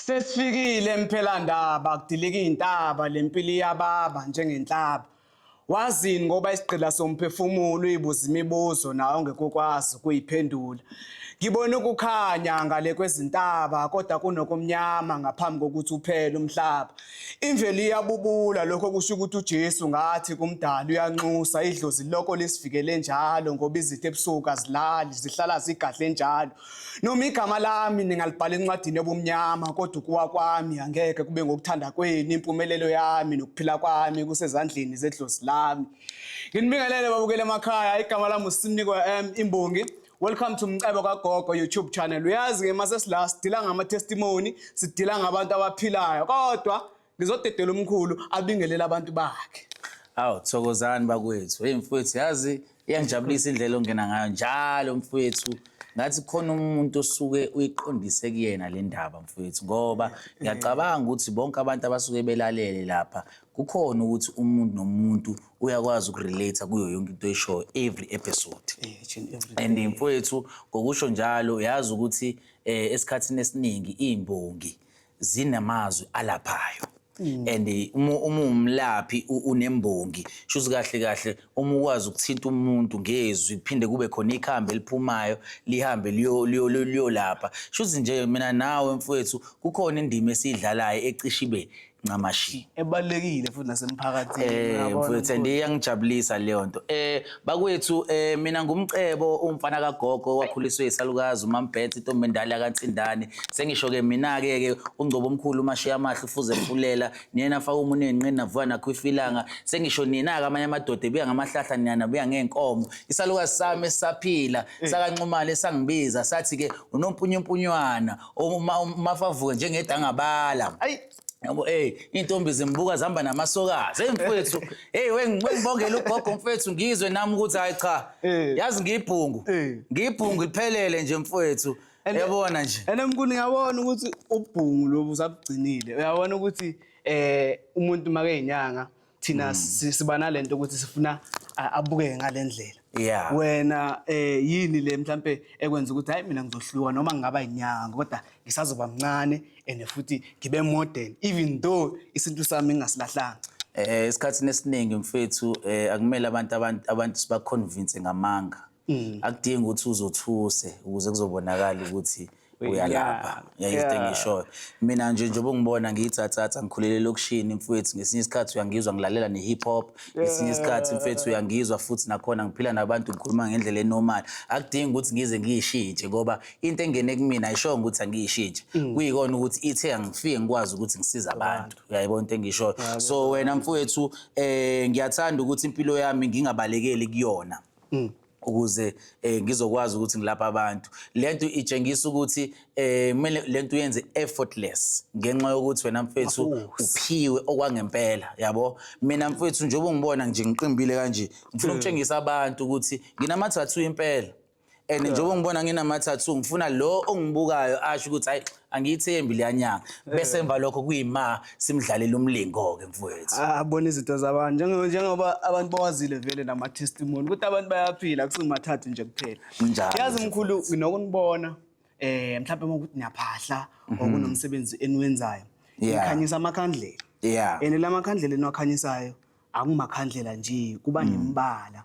Sesifikile emphelandaba kudilika iy'ntaba le mpilo iyababa njengenhlaba Wazini ngoba isigqila somphefumulo uyibuza imibuzo nawe ongekokwazi ukuyiphendula. Ngibona ukukhanya ngale kwezintaba kodwa kunokumnyama ngaphambi kokuthi uphele umhlaba. Imvelo iyabubula lokho kusho ukuthi uJesu ngathi kumdala uyanxusa idlozi lokho lisivikele njalo ngoba izitha ebusuku azilali zihlala zigadle njalo. Noma igama lami ningalibhala encwadini yobumnyama kodwa ukuwa kwami angeke kube ngokuthanda kwenu impumelelo yami nokuphila kwami kusezandleni zedlozi lami. Nginibingelele babukele emakhaya igama lami uSimniko M Imbongi. Welcome to Mcebo kaGogo YouTube channel. Uyazi ke mase sila sidila ngama testimony, sidila ngabantu abaphilayo kodwa ngizodedela umkhulu abingelele abantu bakhe awu thokozani bakwethu hey mfowethu yazi iyangijabulisa indlela ongena ngayo njalo mfowethu ngathi khona umuntu osuke uyiqondise kuyena le ndaba mfowethu ngoba ngiyacabanga ukuthi bonke abantu abasuke belalele lapha kukhona ukuthi umuntu nomuntu uyakwazi ukurelate kuyo yonke into oyishoyo every episode eh, and mfowethu ngokusho njalo uyazi ukuthi um esikhathini esiningi iy'mbongi zinamazwi alaphayo mm. and eh, uma uwumlaphi unembongi shuthi kahle kahle uma ukwazi ukuthinta umuntu ngezwi kuphinde kube khona ikhambi eliphumayo lihambe liyolapha shuthi nje mina nawe mfowethu kukhona indima esiyidlalayo ecishibe ncamashi ebalekile futhi nasemphakathini eh, yabo mfowethu ndiyangijabulisa leyo nto eh Bakwethu eh mina ngumcebo umfana kagogo wakhuliswe isalukazi umambhethe intombi endala yakantsindane sengisho ke mina ke ke ungcobo omkhulu umashiya amahle ufuze fulela niyena afaka umuntu enqini navuka nakho ifilanga sengisho nina ke amanye amadoda ebuya ngamahlahla niyana buya ngeenkomo isalukazi sami esisaphila eh. sakanxumala esangibiza sathi ke unompunyumpunywana uma umafavuke njengedangabala ayi Yabo hey intombi zimbuka zihamba namasokazi hey mfethu hey wengibongela ugogo mfethu ngizwe nami ukuthi hayi cha eh. yazi ngiyibhungu eh. ngiyibhungu liphelele nje mfethu yabona nje ene mkuni yabona ukuthi ubhungu lobu usabugcinile uyabona ukuthi eh umuntu make inyanga thina mm. si- siba nalento ukuthi sifuna a- abukeke ngalendlela Yeah. wena eh yini le mhlambe ekwenza ukuthi hayi mina ngizohluka noma ngingaba inyanga kodwa ngisazoba mncane and futhi ngibe modern even though isintu sami ngingasilahlanga Eh esikhathini esiningi mfethu eh akumele abantu abantu abantu sibaconvince ngamanga. Mm. akudingi ukuthi uzothuse ukuze kuzobonakala ukuthi uyalapha yayizite engishoyo mina nje njengoba ngibona ngiyithathatha ngikhulele elokishini mfowethu ngesinye isikhathi uyangizwa ngilalela ne-hip hop ngesinye isikhathi mfowethu uyangizwa futhi nakhona ngiphila nabantu ngikhuluma ngendlela enormal akudingi ukuthi ngize ngiyishintshe ngoba into engene kumina ayishongo ukuthi angiyishintshe mm. kuyikona ukuthi ithe angifike ngikwazi ukuthi ngisize abantu uyayibona into engishoyo so wena mfowethu um ngiyathanda ukuthi impilo yami ngingabalekeli kuyona Mm. ukuze eh, ngizokwazi ukuthi ngilapha abantu lento itshengisa ukuthi eh, kumele lento uyenze effortless ngenxa yokuthi wena mfethu uphiwe okwangempela yabo mina mfethu njengoba ungibona nje ngiqimbile kanje ngifuna hmm. ukutshengisa abantu ukuthi nginamathathu impela and njengoba ngibona nginama-tattoo ngifuna lo ongibukayo asho ukuthi hayi angiyithembi leya nyanga bese emva lokho kuyima simdlalela umlingo-ke mfowethu abona izinto zabantu Njenge- njengoba abantu bawazile vele nama-testimony ukuthi abantu bayaphila kusingamathathu nje kuphela Kunjalo yazi nje, mkhulu nginokunibona um mhlawumbe uma ukuthi niyaphahla or kunomsebenzi eniwenzayo Mhm. Yeah. nikhanyisa amakhandlela yeah and la makhandlela eniwakhanyisayo akumakhandlela nje kuba nemibala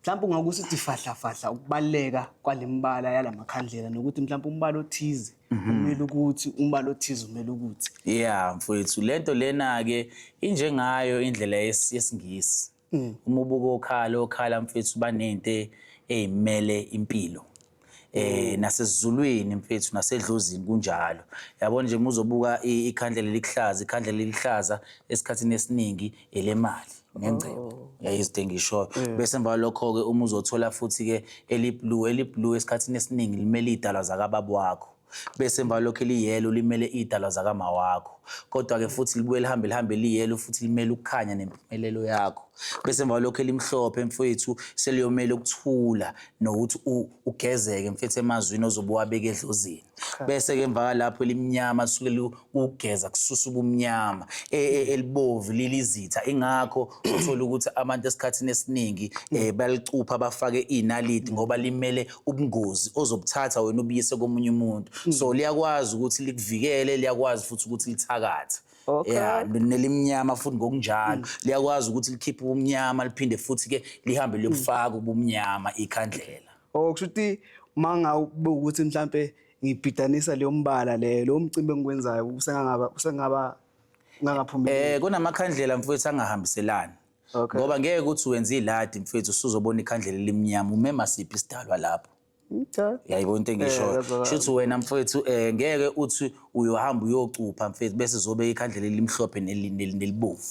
mhlawumbe ungakusithi fahlafahla ukubaluleka kwale mibala yala makhandlela nokuthi mhlawumbe umbala othize umele ukuthi umbala othize umele ukuthi ya mfowethu le nto lena-ke injengayo indlela yes- yesingisi uma ubuka okhala okhala mfowethu banento eyimele impilo eh nasezulwini mfethu nasedlozini kunjalo yabona nje muzobuka i- ikhandla lelihlaza ikhandla lelihlaza esikhathini esiningi elemali ngengcebo yayizide engishoyo bese emva lokho-ke uma uzothola futhi-ke eliblue eliblue esikhathini esiningi limele iy'dalwa zakababa wakho Bese emva lokho liyelo limele idalwa zakama wakho. Kodwa ke futhi libuye lihambe lihambe liyelo futhi limele ukukhanya nempumelelo yakho. Bese emva lokho elimhlophe mfowethu seliyomela ukuthula nokuthi ugezeke mfethu emazwini ozobuwabeka edlozini. Bese ke emva lapho elimnyama suke kugeza kususa ubumnyama e, e, elibovu lilizitha ingakho uthola ukuthi abantu esikhathini esiningi um balicupha bafake iy'naliti ngoba limele ubungozi ozobuthatha wena ubuyise komunye umuntu mm. so liyakwazi ukuthi likuvikele liyakwazi futhi ukuthi lithakathe Okay. Yeah, nelimnyama futhi ngokunjalo mm. liyakwazi ukuthi likhiphe ubumnyama liphinde futhi ke lihambe liyokufaka ubumnyama ikhandlela. Oh kusho ukuthi manga ukuthi mhlambe ngibhidanisa leyo mbala leyo lowo mcimbi engikwenzayo usengangaba usengaba ngangaphumeleli Eh kunamakhandlela mfowethu angahambiselani. Okay. Ngoba ngeke ukuthi wenze iladi mfowethu usuzobona ikhandlela elimnyama umema siphi isidalwa lapho. okay Yayibona into Eh, engishoyo. that's all. Shuthi wena mfowethu eh ngeke uthi uyohamba uyocupha mfowethu bese zobe ikhandlela elimhlophe neli- neli- nelibovu.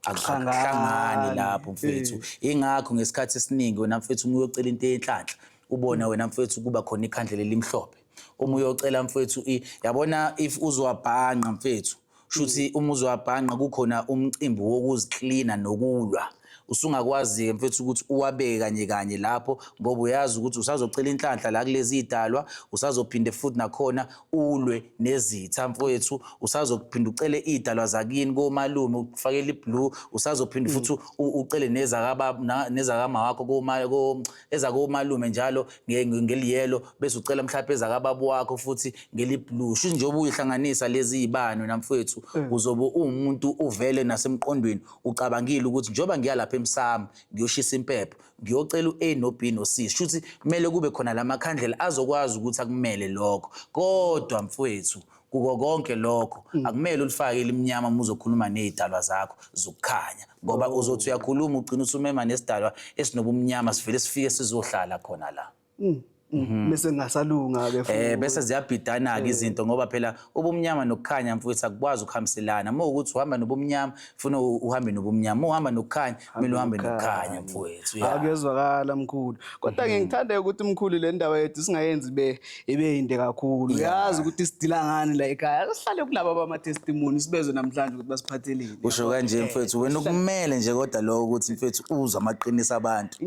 akuhlangani lapho mfethu ingakho ngesikhathi esiningi wena mfethu uma uyocela into yenhlanhla ubone wena mfethu kuba khona ikhandlela elimhlophe uma uyocela mfethu yabona if uzowabhanqa mfethu shuthi uma uzowabhanqa kukhona umcimbi wokuziklina nokulwa usungakwazi-ke mfethu ukuthi uwabeke kanye kanye lapho ngoba uyazi ukuthi usazocela inhlanhla la kulezi idalwa usazophinde futhi nakhona ulwe nezitha mfowethu usazokuphinda ucele idalwa zakini komalume ukufakela iblue usazophinda mm. futhi ucele nezakababa nezakama wakho koma ezakomalume njalo ngeliyelo bese ucela mhlawumbe ezakababa wakho futhi ngeliblue shuthi njengoba uyihlanganisa lezi zibani namfowethu mm. uzobe uwumuntu uvele nasemqondweni ucabangile ukuthi njengoba ngiyalapha emsamo ngiyoshisa impepho ngiyocela u-A no-B no-C shuthi kumele kube khona la makhandlela azokwazi ukuthi akumele lokho kodwa mfwethu kuko konke lokho mm. akumele ulifake elimnyama uma uzokhuluma nezidalwa zakho zokukhanya ngoba uzothi uyakhuluma ugcina usumema nesidalwa esinobumnyama sivele sifike sizohlala khona la Mm. Mm. Mhm. bese ngasalunga ke futhi eh bese ziyabhidana ke eh. izinto ngoba phela ubumnyama nokukhanya mfowethu akukwazi ukuhambiselana uma ukuthi uhamba nobumnyama ufuna uhambe nobumnyama uhamba nokukhanya kumele uhambe nokukhanya mfowethu akuyezwakala mkhulu kodwa mhm. ngithanda ukuthi mkhulu le ndawo yethu singayenzi be ibe inde kakhulu uyazi ukuthi sidila ngani la ekhaya sihlale kunabo abama testimony sibezwe namhlanje ukuthi basiphatheleni usho kanje mfowethu wena ukumele nje kodwa lokho ukuthi mfowethu uzwa amaqiniso abantu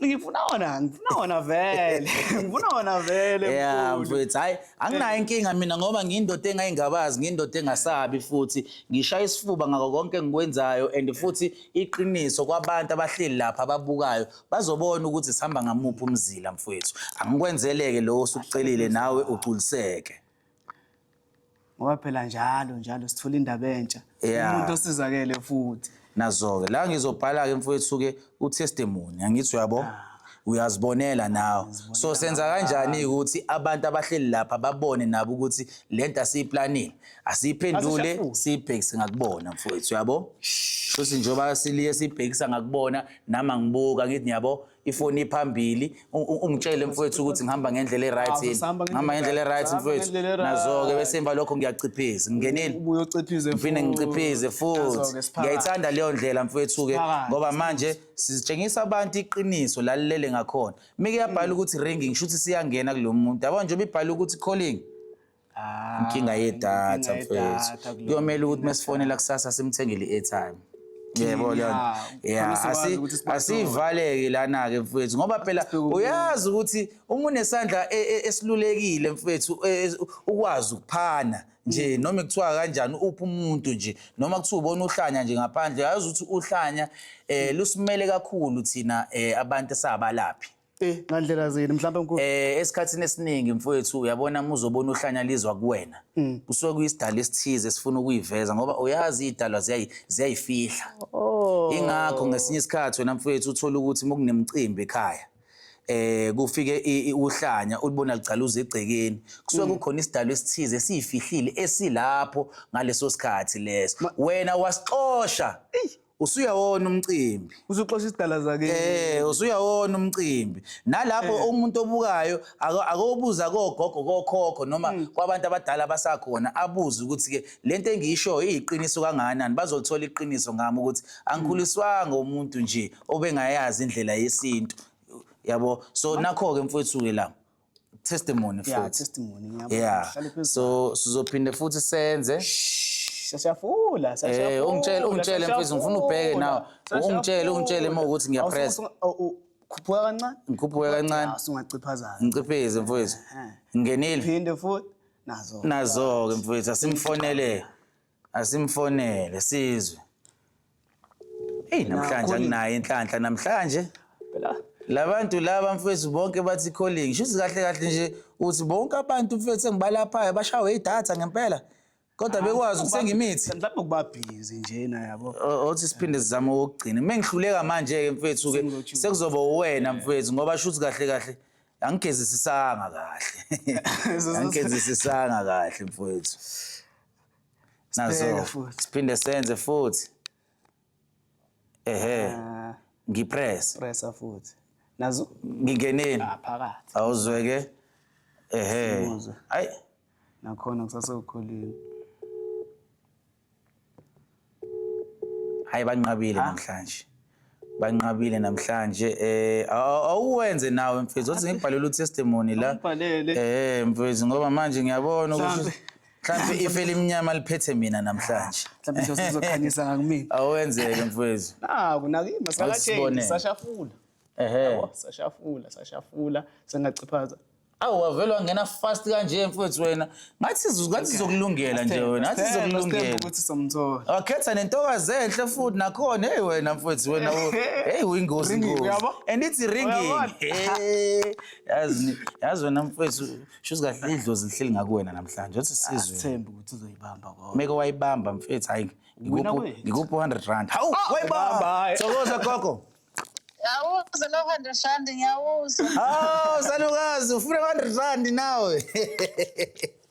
ngifuna wona ngifuna wona vele ngifuna wona vele yeah mfethu hayi anginayo inkinga mina ngoba ngiyindoda engayingabazi ngiyindoda engasabi futhi ngishaya isifuba ngako konke engikwenzayo and futhi iqiniso kwabantu abahleli lapha ababukayo bazobona ukuthi sihamba ngamuphi umzila mfethu angikwenzeleke lowo osukucelile nawe ugculiseke ngoba phela njalo njalo sithola indaba entsha Yeah. umuntu osizakele futhi nazo-ke la ngizobhala-ke mfowethu-ke utestimony angithi uyabo uyazibonela nawe so senza kanjani-ke ukuthi abantu abahleli lapha babone nabo ukuthi le nto asiyiplanile asiyiphendule Asishafuli. siyibhekise ngakubona mfowethu uyabo shuthi njengoba siliye siyibhekisa ngakubona nami angibuka ngithi ngiyabo ifoni iphambili u- u- ungitshele mfowethu ukuthi ngihamba ngendlela e-right Awu, yini sihamba ngendlela ngihamba ngendlela e-right, e-right sihamba mfowethu ngendlela e-right. nazo-ke bese emva lokho ngiyaciphisa ngingenile ubuye uciphize ngiphinde futhi. ngiciphize Nazo-ke futhi siphakathi. ngiyayithanda leyo ndlela mfowethu-ke Siphakathi. ngoba manje sitshengisa abantu iqiniso lalilele ngakhona mike yabhala ukuthi ringing shuthi siyangena kulo muntu yabona njengoba ibhala ukuthi calling Ah, inkinga yedatha inkinga mfethu yedatha kulo. kuyomele ukuthi mesifonela kusasa simthengele i-airtime yebo leyo nto. Yeah, Yeah, khona siwazi asi- ukuthi sibathola. asivaleki lana-ke mfethu ngoba phela Sibheke uyazi ukuthi uma unesandla e- e- esilulekile mfethu e- e- ukwazi ukuphana nje Mm. noma kuthiwa kanjani uphi umuntu nje noma kuthiwa ubona uhlanya nje ngaphandle uyazi ukuthi uhlanya um lusimele kakhulu thina um abantu esabalaphi Eh, ngandlela zini mhlawumbe mkhulu? Eh, esikhathini esiningi mfowethu uyabona uma uzobona uhlanya lizwa kuwena. Mm. Kusuke kuyisidala esithize esifuna ukuyiveza ngoba uyazi idalwa ziyayi ziyayifihla. Oh. Ingakho ngesinye isikhathi wena mfowethu uthola ukuthi uma kunemicimbi ekhaya eh kufike i- i- uhlanya ulibona ligcala uze egcekeni kusuke Mm. kukhona isidalo esithize esiyifihlile esilapho ngaleso sikhathi leso wena wasixosha usuyawona umcimbi usuxosha isidala zake eh usuyawona umcimbi nalapho eh. umuntu obukayo akobuza kogogo kokhokho noma hmm. kwabantu abadala basakhona abuze ukuthi ke lento engiyisho iyiqiniso kangakanani bazolithola iqiniso ngami ukuthi angikhuliswanga umuntu nje obengayazi indlela yesintu yabo so nakho ke mfowethu ke la testimony yeah, futhi testimony ngiyabona yeah. Hlale phezulu. so sizophinde futhi senze Siyafula, eh siyafula. ungitshele ungitshele mfethu ngifuna ubheke nawe ungitshele ungitshele uma ukuthi ngiyapress Khuphuka kancane. ngikhuphuke kancane Ah, Sungaciphazana. ngicipheze mfethu ngenile Phinde futhi nazo. nazo-ke mfethu asimfonele Asimfonele sizwe. Hey namhlanje Nakhona- anginayo inhlanhla namhlanje. Phela Labantu laba mfethu bonke bathi calling. Shuthi kahle kahle nje uthi bonke abantu mfethu engibalaphayo bashawe idatha ngempela. Kodwa bekwazi ukuthenga imithi. mhlawumbe ukuba busy njena yabo. O- Othi siphinde sizame ukugcina. Mengihluleka manje ke mfethu ke Sengilotshiwe. sekuzoba uwena mfethu ngoba shuthi kahle kahle angigezisisanga kahle. Angigezisisanga kahle mfethu. nazo siphinde senze futhi ehe ah. ngipress pressa futhi nazo ngingeneni ah, phakathi awuzweke ehe ayi nakhona kusase ukhulile hayi banqabile namhlanje banqabile namhlanje eh awuwenze nawe mfethu othi ngibhalele utestimony la eh mfethu ngoba manje ngiyabona ukuthi mhlambe ife elimnyama liphethe mina namhlanje mhlambe nje uzokhanyisa ngakumina awenzeke mfethu naku nakimi sakatheni sashafula ehe Yabo, sashafula sashafula sengaciphaza awu wavele wangena fast kanje mfowethu wena ngathi sizo- ngathi sizokulungela nje wena ngathi Sithembe, sithembe sizokulungela ukuthi somthola wakhetha nentokazi enhle futhi nakhona heyi wena mfowethu wena u- heyi uyingozi Ringing, ngozi uyabo? and ithi ringing Uyabona? Hey, yazi ni- yazi wena mfowethu shuthi kahle idlozi lihleli ngakuwena namhlanje othi sizwe sithembe ukuthi uzoyibamba kodwa meke wayibamba mfethu hayi Wina ngikuphi kwethu. ngikuphi 100 rand hawu wayibamba bye. thokoza gogo Ngiyawuzwa lo 100 rand ngiyawuzwa. Oh, salukazi ufuna 100 rand nawe.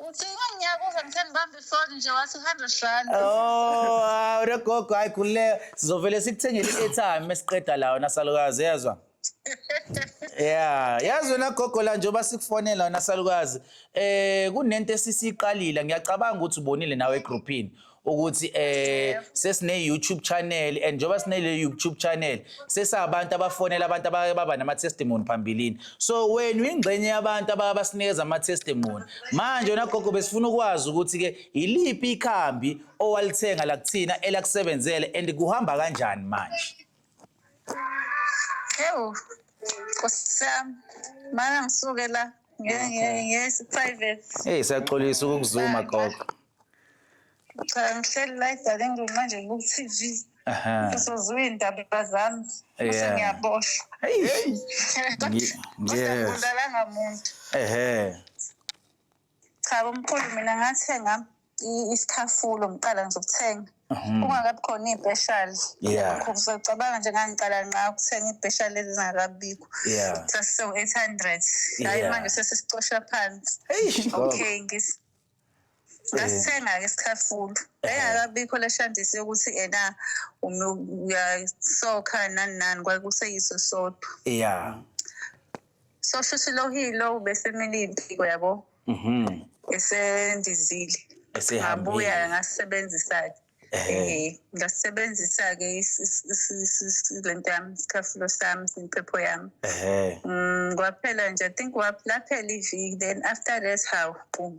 Uthini ngiyakuzwa ngithe ngibambe ifoni nje wathi 100 rand. Oh, hawu logogo hayi khulile sizovele sikuthengele i-airtime esiqeda la wena salukazi yezwa. Yeah, yazi wena gogo la njengoba sikufonela wena salukazi. Eh kunento esisiqalile ngiyacabanga ukuthi ubonile nawe egroupini. ukuthi eh sesine YouTube channel and njoba sine le YouTube channel sesabantu abafonela abantu abake baba nama testimony phambilini so wena uyingxenye yabantu ababasinikeza ama testimony manje wena gogo besifuna ukwazi ukuthi ke iliphi ikhambi owalithenga la kuthina elakusebenzele and kuhamba kanjani manje Ewu, Nkosi yami, mana ngisuke la nge- nge- ngesi-private. Hey siyaxolisa ukukuzuma gogo. Cha, ngihleli la edalini ngenxa nje ku-TV. Aha. Usozwe iy'ndaba zami, Yeah. bese ngiyaboshwa. Hey. Ngi- Kodwa yes. ngibulalanga muntu. Ehhe. Cha bomkhulu mina ngathenga isikhafulo ngiqala nje ukuthenga mhm. kungakabi khona iy'peshali uzocabanga nje ngangiqala nqa ukuthenga iy'peshali ezingakabikho sasisewu-eight hundred hhayi manje sesisicosha phansi okay ngasithenga-ke isikhafulo engakabikho le shandisi yokuthi ena uyasokha nani nani kwakuseyiso sodwa ya so shuthi lo hilo ubesemele impiko yabo mhm esendizile Esehambile. ngabuya ngasebenzisa ke Ehhe. eh ngasebenzisa ke is- is- is- is- is- lento yami isikhafulo sami impepho yami ehe Mm, kwaphela nje i think wap- laphela iviki then after that hawu boom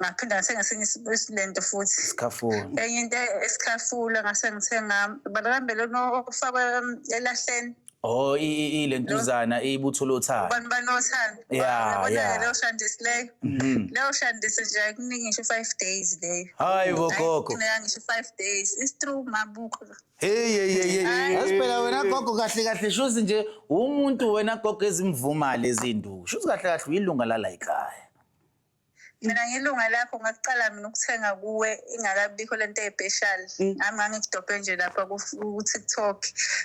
ngaphinda ngathenga esinye isilento futhi enye into esikhafula ngase ngithenga balambele ofakwe elahleni Oh ilento izana ibutho lothanda. Abantu banothanda. Yeah yeah. Leyo shandisi leyo. Mm-hmm. Leyo shandisi nje kuningi ngisho 5 days leyo. Hayi bo gogo. Kuningi ngisho 5 days. It's true mabuko. Hey hey hey hey. Asiphela wena gogo kahle kahle shuthi nje umuntu wena gogo ezimvuma lezi nduku. Shuthi kahle kahle uyilunga la la ekhaya. mina ngilunga lakho ngakuqala mina ukuthenga kuwe ingakabikho le nto ey'peshali mm. ngami ngangikudobhe nje lapha ku-tiktok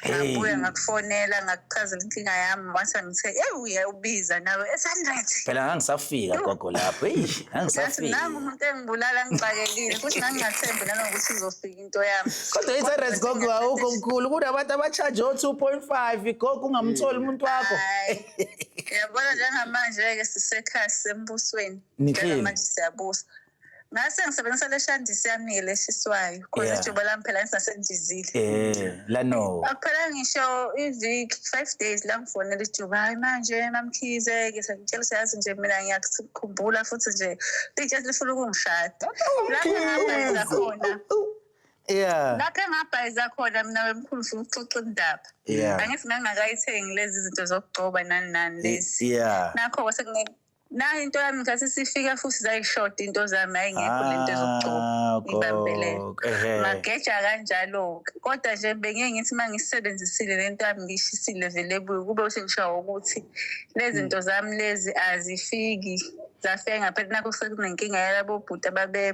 ngabuya ngakufonela ngakuchazela inkinga yami wase ngithe eyi uye ubiza nawe e-hundred phela ngangisafika gogo lapho eyi ngangisafika nami umuntu engibulala ngixakekile futhi ngangingathembi nanokuthi izofika into yami kodwa i-hundred gogo awukho mkhulu kunabantu abashaje o-two point five gogo ungamtholi umuntu wakho yabona njengamanje-ke sisekhaya sisembusweni Niklini. manje siyabusa ngase ngisebenzisa le shandisi yami-ke leshiswayo khona Yeah. ijubo lami phela ngisasendizile Eh, la no. akuphela ngisho iviki five days la ngifonela ijuba hayi manje mamkhize-ke sengitshela useyazi nje mina ngiyakukhumbula futhi nje litshe lifuna ukungishada la ngihamba ngiza khona yeah lapho engabhayiza khona mina wemkhulu ufuna ukuxoxa indaba yeah angithi ngangakayithengi lezi zinto zokugcoba nani nani lezi yeah nakho kwase kune- nayo into yami ngathi sifika futhi zayishoda into zami hayi ngekho le nto zokugcoba Ah, ngibambelele gok, ehe. mageja kanjalo-ke kodwa nje bengiye ngithi uma ngisebenzisile le nto yami ngiyishisile vele ebuye kube usengishawa ukuthi lezi nto zami lezi azifiki zafika ngaphela nakho sekunenkinga yalabobhuti ababe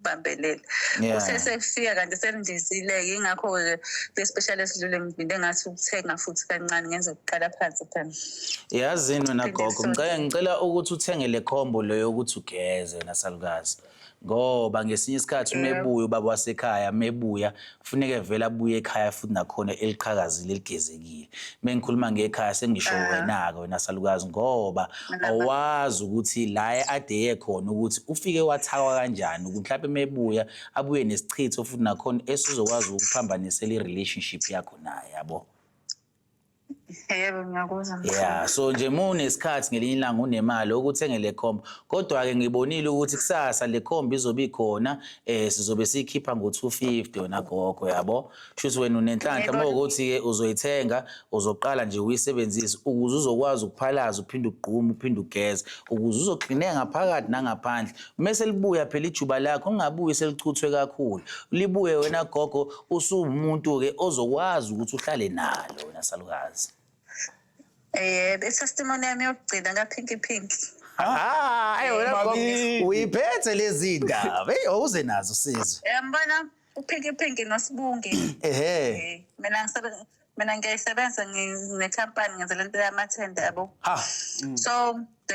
bambelele Yeah. usesefika kanti selindizile yingakho ke le special esidlule ngivinde ngathi ukuthenga futhi kancane ngenze ukuqala phansi phela yazini wena Phinde gogo sonke. ngicela ngicela ukuthi uthenge le combo leyo yokuthi ugeze nasalukazi ngoba ngesinye isikhathi umebuya ubaba wasekhaya mebuya kufuneke vele abuye ekhaya futhi nakhona eliqhakazile eligezekile mengikhuluma ngekhaya sengisho ah. wena-ke wena salukazi ngoba awazi ukuthi la adeye khona ukuthi ufike wathakwa kanjani ukuthi mhlawumbe mebuya abuye nesichitho futhi nakhona esizokwazi ukuphambanisela i-relationship yakho naye yabo Yebo ngiyakuzwa mfana. Yeah, so nje uma unesikhathi ngelinye ilanga unemali okuthenge le comb. Kodwa-ke ngibonile ukuthi kusasa le comb izobe ikhona eh sizobe siyikhipha ngo-250 yona gogo yabo. Shuthi wena unenhlanhla Yebo. uma ukuthi-ke uzoyithenga uzoqala nje uyisebenzise ukuze uzokwazi ukuphalaza uphinde ugqume uphinde ugeze ukuze uzoklineka ngaphakathi nangaphandle Mese libuya phela ijuba lakho ungabuyi selichuthwe kakhulu. Libuye wena gogo usuwumuntu ke ozokwazi ukuthi uhlale nalo wena salukazi. Eh, testimony yami yokugcina ka Pinky Pinky. Ah, ayi wena gogo Bakithi. uyiphethe lezi ndaba. Hey, awuze nazo sizwe. Yambona uPinky Pinky noSibunge. Ehhe. Eh, Mina ngisebenza mina ngiyayisebenza nginekhampani ngenza le nto yamathende yabo so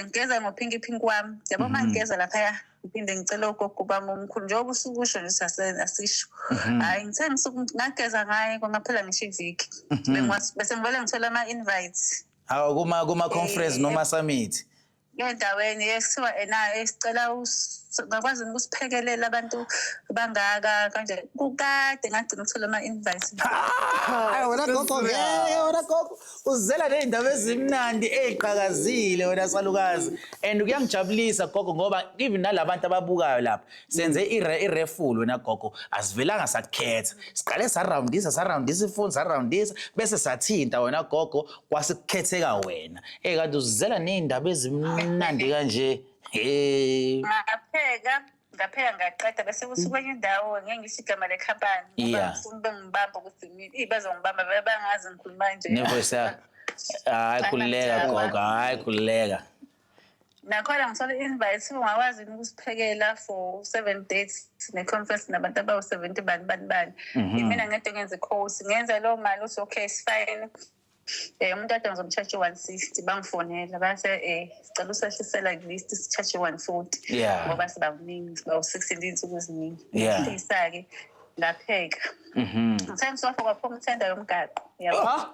ngigeza ngophinki phinki wami yabo uma mhm. ngigeza laphaya ngiphinde ngicele ugogo ubami omkhulu njengoba usukusho nje asisho mhm. hhayi ngithe ngisuku ngageza ngaye kwangaphela ngisho iviki mhm. bese ngivele ngithola ama-invites kuma-conference eh, noma eh. summit endaweni ekuthiwa ena esicela ngakwazi ukusiphekelela abantu bangaka kanje kukade ngagcina ukuthola ama-invite hayi wena gogo ngeke wena gogo uzela ney'ndaba ezimnandi ey'qakazile wena salukazi and kuyangijabulisa gogo ngoba even nalabantu ababukayo lapha senze irefulu wena gogo asivelanga sakukhetha siqale sarawundisa sarawundisa ifoni sarawundisa bese sathinta wena gogo kwasikukhetheka wena ey kanti uzizela ney'ndaba ezimnandi kanje hey ngapheka ngapheka ngaqeda bese kusukenye indawo ngeke ngisho igama lekhampani ngoba ngifuna ube ngibamba ukuthi iy bazongibamba vele bangazi ngikhuluma nje nevoice yakho hayi khululeka gogo hayi khululeka nakhona ngisole i-invite ungakwazi yini ukusiphekela for seven days ne-conference nabantu abawu-seventy bani bani bani Mhm. imina ngede ngenze course ngenze loo mali uthi okay sifine um umuntu ade ngizomtshaje one sixty bangifonela base um sicela usehlisela kulist sitshaje one forty Yeah. ngoba sibakuningi sibawu-sixty ndiyinsuku eziningi Yeah. ngihlisa-ke ngapheka Mhm. ngithe ngisofa kwaphuma ithenda yomgaqo yabo Ah,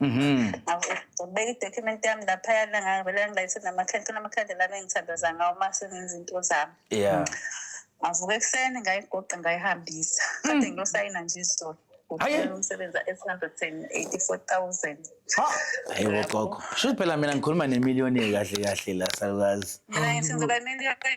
Mhm. Ngibeka i-document yami laphayana ngavele ngilayise namakhandlela amakhandlela ami engithandaza ngawo uma sengenza into zami. Yeah. Ngavuka ekuseni ngayigoqa ngayihambisa. Kade ngiyosayina nje izolo. Aye. Ngicela umsebenzi e-884,000. Ha. Hayibo gogo. Shuthi phela mina ngikhuluma nemillionaire kahle kahle la salukazi. Mina ngithi ngizoba imiliyoni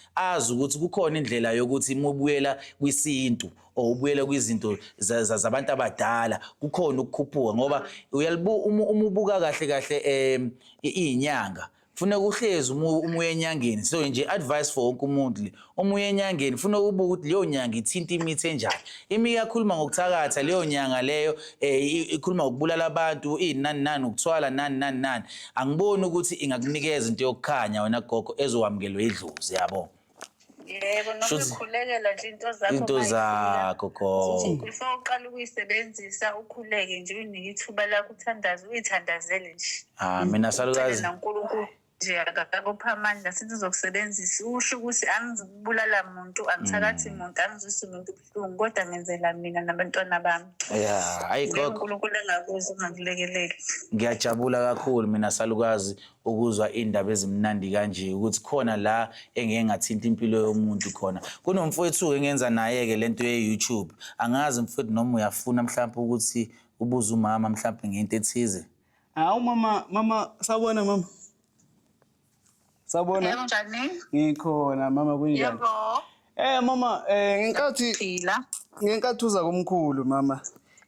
azi ukuthi kukhona indlela yokuthi uma ubuyela kwisintu or ubuyela kwizinto zabantu abadala kukhona ukukhuphuka ngoba uyalibu uma ubuka kahle kahle um iyinyanga funa kuhlezi uma uye enyangeni so nje advice for wonke umuntu le uma uye enyangeni funa ukubuka ukuthi leyo nyanga ithinta imithi enjani imi iyakhuluma ngokuthakatha leyo nyanga leyo um ikhuluma ngokubulala abantu iyinani nani ukuthwala nani nani nani angiboni ukuthi ingakunikeza into yokukhanya wena gogo ezowamukelwe idlozi yabo yebo noma Shuthi- ukhulekela nje into zakho into uma izila. zakho gogo before uqala ukuyisebenzisa ukhuleke nje uyinike ithuba lakho uthandaze uyithandazele nje ah mina Ucele salukazi nankulunkulu nje akakupha amandla sithi uzokusebenzisa usho ukuthi angizibulala muntu angithakathi muntu angizwisi muntu ibuhlungu kodwa ngenzela mina nabantwana bami ya hayi gogo unkulunkulu engakuzi ungakulekeleli ngiyajabula kakhulu mina salukazi ukuzwa iy'ndaba ezimnandi kanje ukuthi khona la engeke ngathinta impilo yomuntu khona kunomfowethu-ke engenza naye-ke le nto ye-youtube angazi mfowethu noma uyafuna mhlawumpe ukuthi ubuze umama mhlawumpe ngento ethize hawu mama mama sawubona mama Sabona? Unjani? Ngikhona mama kunjani? Yebo. Eh mama eh ngenkathi Phila. ngenkathi uza kumkhulu mama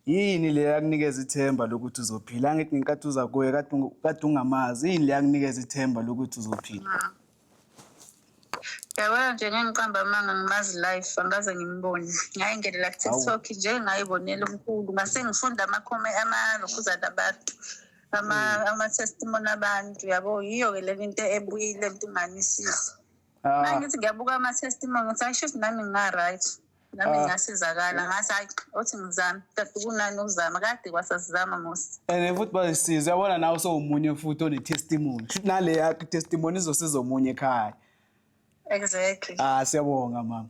yini le yakunikeza ithemba lokuthi uzophila angithi ngenkathi uza kuye kade ungu- kade ungamazi yini le yakunikeza ithemba lokuthi uzophila Yabona nje ngengiqamba amanga ngimazi life angaze ngimbone. Ngayingenela ku-TikTok nje ngayibonela umkhulu ngase ngifunda amakhomi amalokhuzana abantu. ama mm. ama testimony abantu yabo yiyo ke lento into ebuyile mntumanisisi ah. mangithi ngiyabuka ama testimony ngithi ayisho ukuthi nami nginga right nami ah. ngasizakala ngathi hayi othi ngizame kade kunani ukuzama kade kwasasizama musi and futhi bayisiza yabona nawe sowumunye futhi one testimony nale yakhe testimony izosiza omunye ekhaya Exactly. Ah siyabonga mama.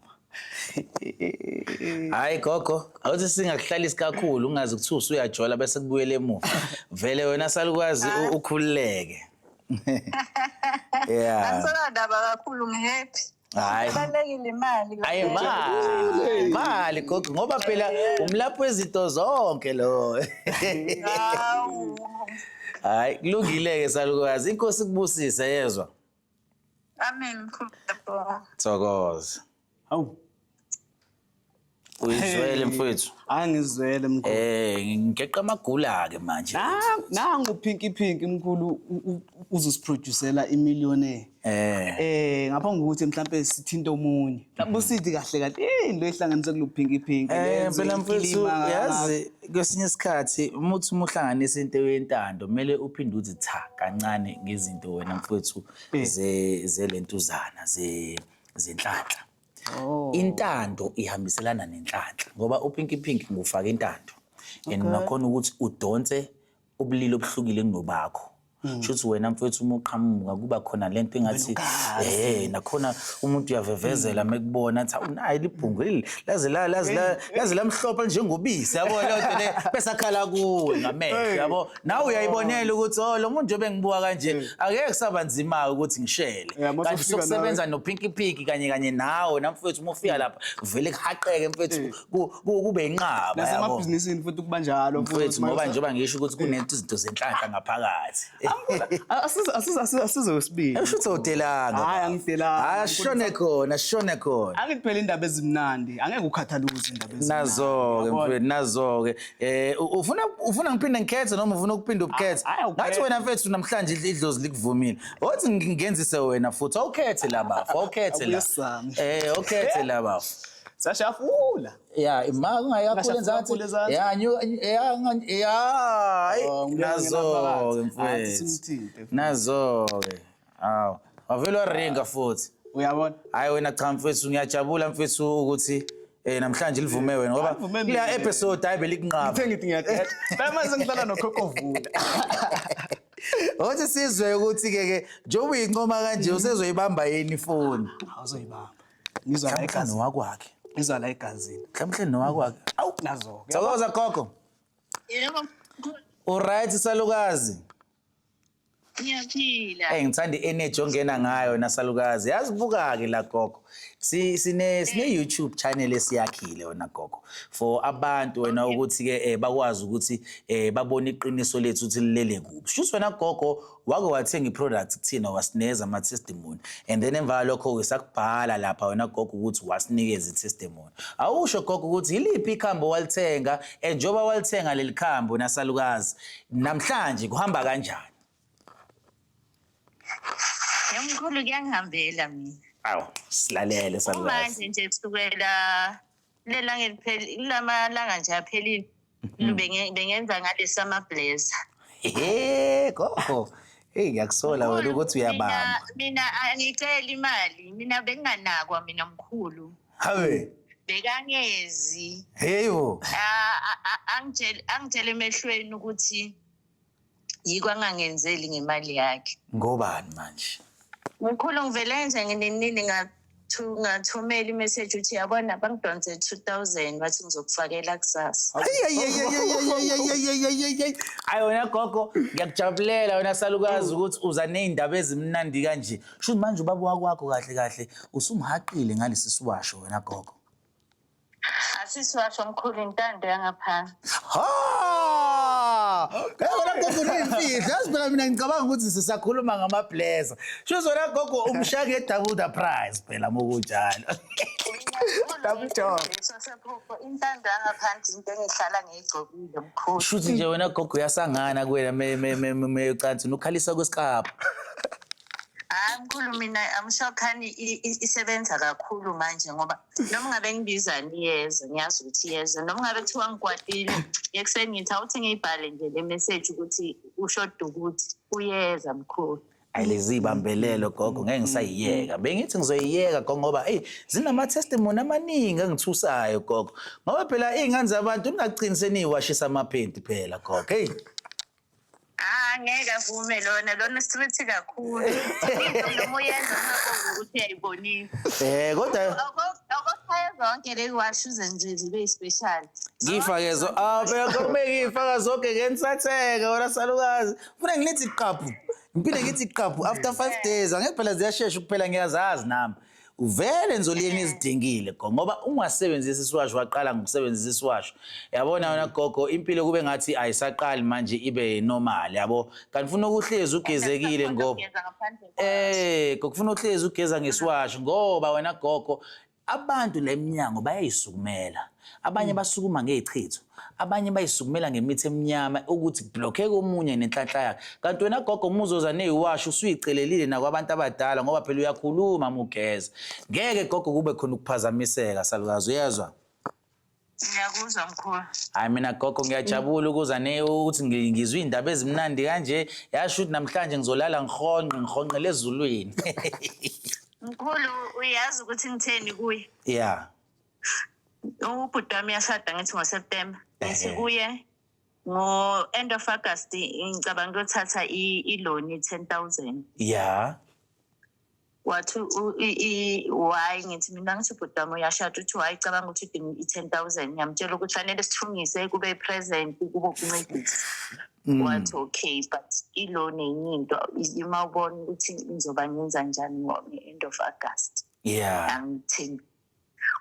Hayi gogo, awuthi singakuhlalisi kakhulu ungazi ukuthi usuyajola bese kubuyele emuva. Vele wena salukwazi u- ukhululeke. Yeah. Angisona ndaba kakhulu ngihappy. Hayi. Balekile imali. Ayi mali, mali gogo ngoba phela umlaphi wezinto zonke lo. Hawu. Hayi kulungile ke salukwazi. Inkosi kubusise yezwa. Amen mkhulu. Thokoza. Hawu. Uyizwele mfowethu. Angizwele mkhulu. Eh ngeqa amagula ke manje. Nangu Pinky Pinky mkhulu uzusiproducela imillionaire. Eh. Eh ngaphambi kokuthi mhlambe sithinte omunye. Busidi kahle kahle eh into ehlanganise kuluphinki phinki Eh phela mfethu yazi kwesinye isikhathi uma uthi uma uhlanganisa into yentando kumele uphinde uthi cha kancane ngezinto wena mfethu eh. ze zelentuzana ze zenhlanhla. Oh. Intando ihambiselana nenhlanhla ngoba uPinky Pink ngufaka intando. And nakhona ukuthi udonse ubulili obuhlukile kunobakho hmm. shuthi wena mfethu uma uqhamuka kuba khona lento engathi eh nakhona umuntu uyavevezela mekubona athi awunayi libhungu leli laze la laze la laze lamhlophe njengobisi yabo lento le bese akhala kuwe ngamehlo yabo nawe uyayibonela ukuthi oh lo muntu njobe ngibuka kanje hmm. akekho kusaba nzima ukuthi ngishele kanti sokusebenza no pinky pinky kanye kanye nawe namfethu uma ufika hmm. lapha vele kuhaqeke mfethu kube inqaba nasemabhizinisini futhi kuba njalo mfowethu ngoba njengoba ngisho ukuthi kunezinto izinto zenhlanhla ngaphakathi asizosibili usho ukuthi udelanga hayi angidelanga hayi ashone khona ashone khona angithi phela indaba ezimnandi angeke ukhathale ukuthi indaba ezimnandi nazo-ke mfowethu nazo-ke eh ufuna ufuna ngiphinde ngikhethe noma ufuna ukuphinde ubukhethe ngathi wena mfethu namhlanje idlozi likuvumile othi ngenzise wena futhi awukhethe la bafo awukhethe la eh awukhethe la bafo sashafula ya ima kungayakhule nzathi ya nyu ya ya oh, nazo ke mfowethu nazo ke aw wavela ringa futhi uyabona hayi wena cha mfowethu ngiyajabula mfowethu ukuthi Eh namhlanje livume wena ngoba kuya episode hayi belikunqaba. Ngithe ngithi ngiyaqeda. Phela manje ngihlala nokhokho vula. Othi sizwe ukuthi ke ke njengoba uyincoma kanje usezoyibamba yini ifoni? Awuzoyibamba. ngizwa la egazi nowakwakhe ngizwa la egazini mhlawumbe nowakwakhe awu nazo thokoza gogo yebo uright salukazi ngiyaphila hey ngithanda i-energy ongena ngayo nasalukazi yazi buka-ke la gogo sine sine YouTube channel esiyakhile wena gogo for abantu wena ukuthi ke eh, bakwazi ukuthi eh, babone iqiniso lethu ukuthi lilele kuphi shuthi wena gogo wake wathenga i-product kuthina wasineza ama-testimony and then emva kwalokho-ke sakubhala lapha wena gogo ukuthi wasinikeza i-testimony awusho gogo ukuthi yiliphi ikhambi owalithenga and njengoba walithenga leli khambi wena salukazi namhlanje kuhamba kanjani yamkhulu kuyangihambela mina awu silalele salukazi manje nje kusukela lelanga elipheli kulamalanga nje aphelile mm-hmm. Benge- bengenza ngalesi amablazer Hey, gogo. Hey, ngiyakusola wena ukuthi uyabamba. mina mina angiceli imali mina benginganakwa mina mkhulu Hawe. bekangezi Hey bo. Ah, ah, ah, angitshele angitshele emehlweni ukuthi yiko angangenzeli ngemali yakhe ngobani manje mkhulu ngivele nje nginenini ngathumela imeseji ukuthi yabona bangidonse two thousand wathi ngizokufakela kusasa ayi wena gogo ngiyakujabulela wena salukazi mm. ukuthi uza ney'ndaba ezimnandi kanje shuthi manje ubaba wakwakho kahle kahle usumhaqile ngalesi siwasho wena gogo Asisiwasho mkhulu intando yangaphansi. Ha! Yebo la gogo uneyimfihlo. Yazi phela mina ngicabanga ukuthi sisakhuluma ngama blazer. Sho zona gogo umshaka e double the price phela mokunjalo. Double job. Sosephupho intando yangaphansi into engihlala ngiyigcokile mkhulu. Shuthi nje wena gogo uyasangana kuwena me me me me- me ucansi nukhalisa kwesikapa. Hayi mkhulu mina amshokhani isebenza kakhulu manje ngoba noma ngabe ngibiza niyeze ngiyazi ukuthi iyeze noma ngabe kuthiwa ngikwatile ekuseni ngithi awuthi ngiyibhale nje le message ukuthi ushoda ukuthi uyeza mkhulu ayilizibambelelo gogo ngeke ngisayiyeka bengithi ngizoyiyeka gogo ngoba eyi zinama-testimony amaningi engithusayo gogo ngoba phela iy'ngane zabantu ningagcini seniyiwashisa amaphenti phela gogo eyi Ah ngeke avume lona lona street kakhulu. Into noma uyenza ungabongi ukuthi uyayibonisa. Eh kodwa Okokushaya zonke le washuze nje zibe special. ngifake zo ah phela kumeke ngifaka zonke ngensatheke wena salukazi. Funa ngilithi qaphu. Ngiphinde ngithi qaphu after 5 days angeke phela ziyashesha ukuphela ngiyazazi nami. Vele nzoliyeni izidingile go ngoba ungasebenzisi isiwasho waqala ngokusebenzisa isiwasho yabona wena mm. gogo impilo kube ngathi ayisaqali manje ibe normal yabo kanti ufuna ukuhlezi ugezekile ngoba eh kokufuna uhlezi ugeza ngesiwasho ngoba wena gogo abantu lemnyango bayayisukumela abanye mm. basukuma ngezichitho abanye bayisukumela ngemithi emnyama ukuthi blokheke omunye nenhlanhla yakhe kanti wena gogo uma uzoza neyiwashi usuyicelelile nakwabantu abadala ngoba phela uyakhuluma uma ugeza ngeke gogo kube khona ukuphazamiseka salukazi uyezwa ngiyakuzwa mkhulu hayi mina gogo ngiyajabula ukuza ne ukuthi ngizwe iy'ndaba ezimnandi kanje yasho ukuthi namhlanje ngizolala ngihonqe ngihonqele ezulwini mkhulu uyazi ukuthi ngitheni kuye ya yeah. ubhuti wami yashada ngithi ngoseptemba ngithi Ehhe. kuye ngo-end of august ngicabanga kuyothatha i- iloni ten thousand ya wathi u- i- i- why ngithi mina ngithi ubhuti wami uyashada uthi why cabanga ukuthi udinga i-ten thousand ngiyamtshela ukuthi fanele sithungise kube i-present kube ukuncedisa Mm. wathi okay but iloni enye into ima ubona ukuthi ngizoba ngenza njani ngo-end of august ya angithembi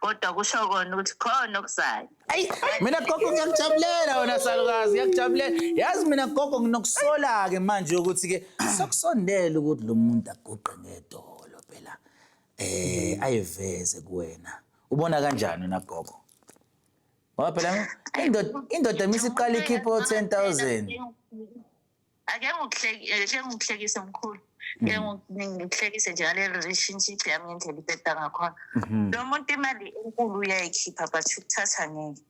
kodwa kusho kona ukuthi khona okuzayo ayi mina gogo ngiyakujabulela wena salukazi ngiyakujabulela yazi mina gogo nginokusola-ke manje ukuthi ke sokusondela ukuthi lo muntu aguqe ngedolo phela eh ayiveze kuwena ubona kanjani wena gogo ngoba phela indoda indoda misiqala ikhiphe o-10 000 ake ngikuhlekise mkhulu ke ngikuhlekise nje ngale relationship yami ngendlela ibheda ngakhona mhm. lo muntu imali enkulu uyayikhipha but ukuthatha ngeke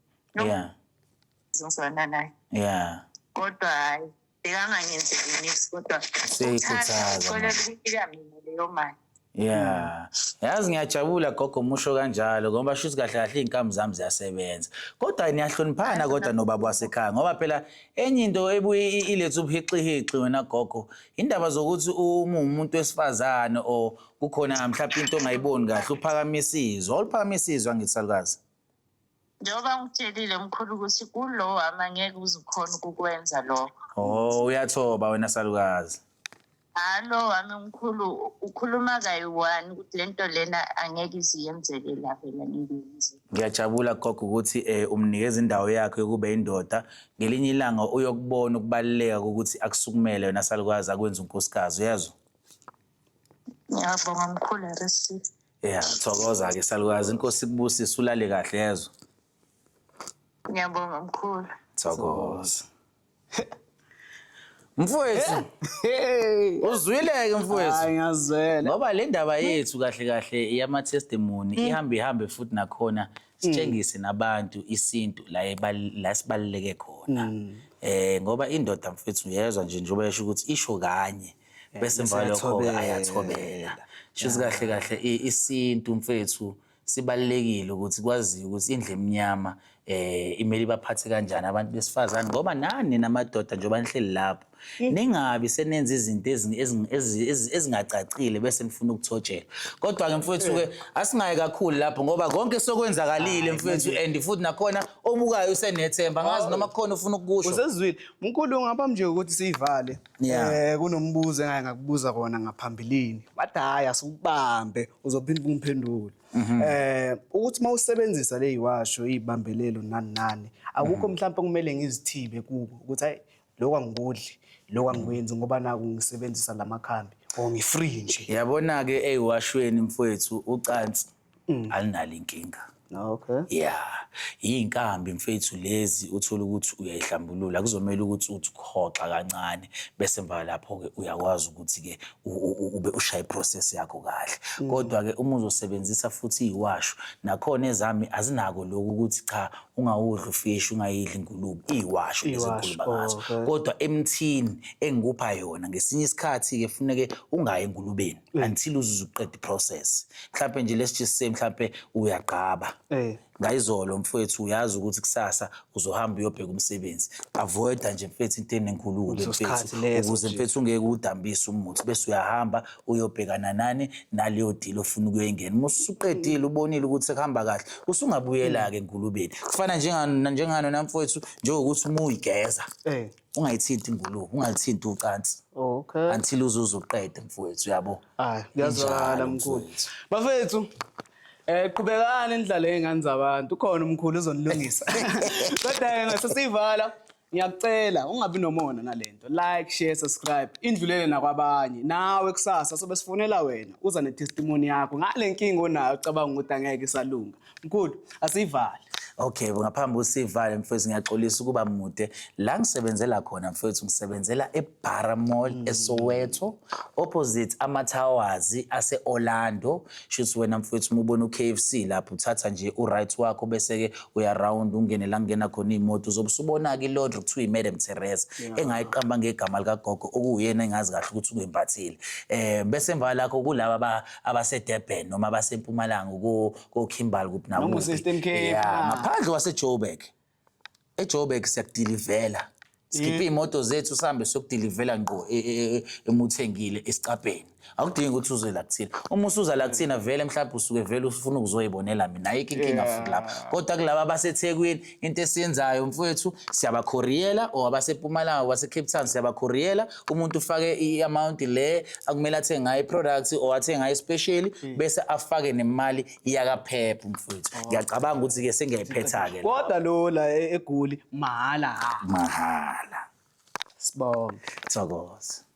ngizozwana naye ya kodwa hhayi bekangangenzeli nix kodwa uthanda uxolela ukuyika mina leyo mali Yeah. Yazi ngiyajabula gogo musho kanjalo ngoba shuthi kahle kahle izinkamu zami ziyasebenza. Kodwa niyahloniphana kodwa nobaba wasekhaya ngoba phela enye into ebuye i- ilethe ubuhixihixi wena gogo indaba zokuthi uma umuntu wesifazane or kukhona mhlawumbe into ongayiboni kahle uphakamisa izwi. Awuliphakamisa izwi angithi salukazi. njengoba ngitshelile mkhulu ukuthi kulo wami angeke uzukhona ukukwenza lokho oh uyathoba wena salukazi hhayi lo wami mkhulu ukhuluma kayi-one ukuthi le nto lena angeke iziyenzeke la vele ngiyenze ngiyajabula gogo ukuthi um umnikeza indawo yakhe yokuba indoda ngelinye ilanga uyokubona ukubaluleka kokuthi akusukumele wena salukazi akwenza unkosikazi uyezwa ngiyabonga mkhulu receive ya thokoza-ke salukazi inkosi kubusise ulale kahle yezwa ngiyabonga mkhulu thokoza mfowethu uzwile-ke mfowethu Hayi ngazwela. ngoba le ndaba yethu kahle kahle iyama-testimony ihambe ihambe futhi nakhona sitshengise nabantu isintu la ebal- la sibaluleke khona um ngoba indoda mfethu uyezwa nje njengoba yesho ukuthi isho kanye Eh, bese emva kwalokho-ke ayathobela shuthi kahle kahle i- isintu mfethu sibalulekile ukuthi kwaziwe ukuthi indlu emnyama eh imele ibaphathe kanjani abantu besifazane ngoba nani namadoda njengoba nihleli lapho ningabi senenza izinto ezing- ezing- ezi- ezi- ezingacacile bese nifuna ukuthotshelwa kodwa-ke mfethu-ke asingayi kakhulu lapho ngoba konke sokwenzakalile mfethu and futhi nakhona obukayo usenethemba ngazi noma kukhona ufuna ukukusho Usezwile. Mkhulu ngaphambi nje ukuthi siyivale. Yeah. Eh kunombuzo engake ngakubuza kona ngaphambilini. Bathi hayi asukubambe uzophinda umphendule. Mhm. Eh ukuthi mawusebenzisa le yiwasho izibambelelo nani nani akukho mhm. mhlawumbe kumele ngizithibe kuko ukuthi hayi lokho angikudli lokho angikwenzi ngoba naku ngisebenzisa lamakhambi or ngifree nje. Yabona ke eyiwashweni mfowethu ucansi mm. alinalo inkinga okay yeah yinkambi mfethu lezi uthola ukuthi uyayihlambulula kuzomela ukuthi uthi ukhoxa kancane bese mva lapho ke uyakwazi ukuthi ke ube ushaya iprocess yakho kahle mm. kodwa ke uma uzosebenzisa futhi iwasho nakhona ezami azinako lokhu ukuthi cha ungawudli ufish ungayidli ingulube iwasho lezikhuluma ngazo kodwa emthini engikupha yona ngesinye isikhathi ke funeke ungayi engulubeni mm. until uzuze uqeda iprocess mhlawumpe nje let's just say mhlawumpe uyagqaba eh. ngayizolo mfowethu uyazi ukuthi kusasa uzohamba uyobheka umsebenzi avoida nje mfethu into enenkulumo mfethu ukuze mfethu ungeke udambise umuthi bese uyahamba uyobhekana nani naleyo deal ofuna ukuyengena uma usuqedile ubonile ukuthi sekuhamba kahle usungabuyela-ke enkulubeni kufana njengano njengano namfowethu njengokuthi uma uyigeza eh. ungayithinti ingulube ungalithinti ucansi okay until uzuze uqede mfowethu yabo hayi kuyazwakala mkhulu bafethu Eh qhubekani nidlale ngezingane zabantu khona umkhulu uzonilungisa. Kodwa ke ngasesivala ngiyakucela ungabi nomona nalento. Like, share, subscribe. Indlulele nakwabanye. Nawe kusasa sobe sifonela wena uza ne testimony yakho. Ngale nkinga onayo ucabanga ukuthi angeke isalunga. Mkhulu, asivale. Okay, ngaphambi usivale mfethu ngiyaxolisa ukuba mude. La ngisebenzela khona mfethu ngisebenzela eBara Mall mm. eSoweto opposite ama Towers ase Orlando. Shuthi wena mfethu mubona uKFC lapho uthatha nje uright wakho bese ke uya round ungene la ngena khona imoto uzobusubona ke Lord kuthiwa iMadam Teresa engayiqamba ngegama lika gogo okuyena engazi kahle ukuthi ukuyimbathile. Eh bese emva lakho kulaba abaseDurban noma abasempumalanga ko ko Kimberley kuphi na Noma useEastern Cape, ah. ngaphandle waseJoburg eJoburg siyakudilivela sikhiphe imoto zethu sihambe siyokudilivela ngqo e- e- e- emuthengile esicabheni akudingi ukuthi uze la kuthina uma usuza la kuthina vele mhlawumbe usuke vele ufuna ukuzoyibonela mina ayikho inkinga Yeah. futhi lapho kodwa kulaba abasethekwini into esiyenzayo mfowethu siyabakhoriyela or abasepumalanga basecape town siyabakhoriyela umuntu ufake i-amount le akumele athenge ngayo i-product or athenge ngayo especially hmm. bese afake nemali yakaphepha mfowethu oh. ngiyacabanga ukuthi-ke sengiyayiphetha-ke kodwa lo la e-, egoli mahhala mahhala sibonge thokoza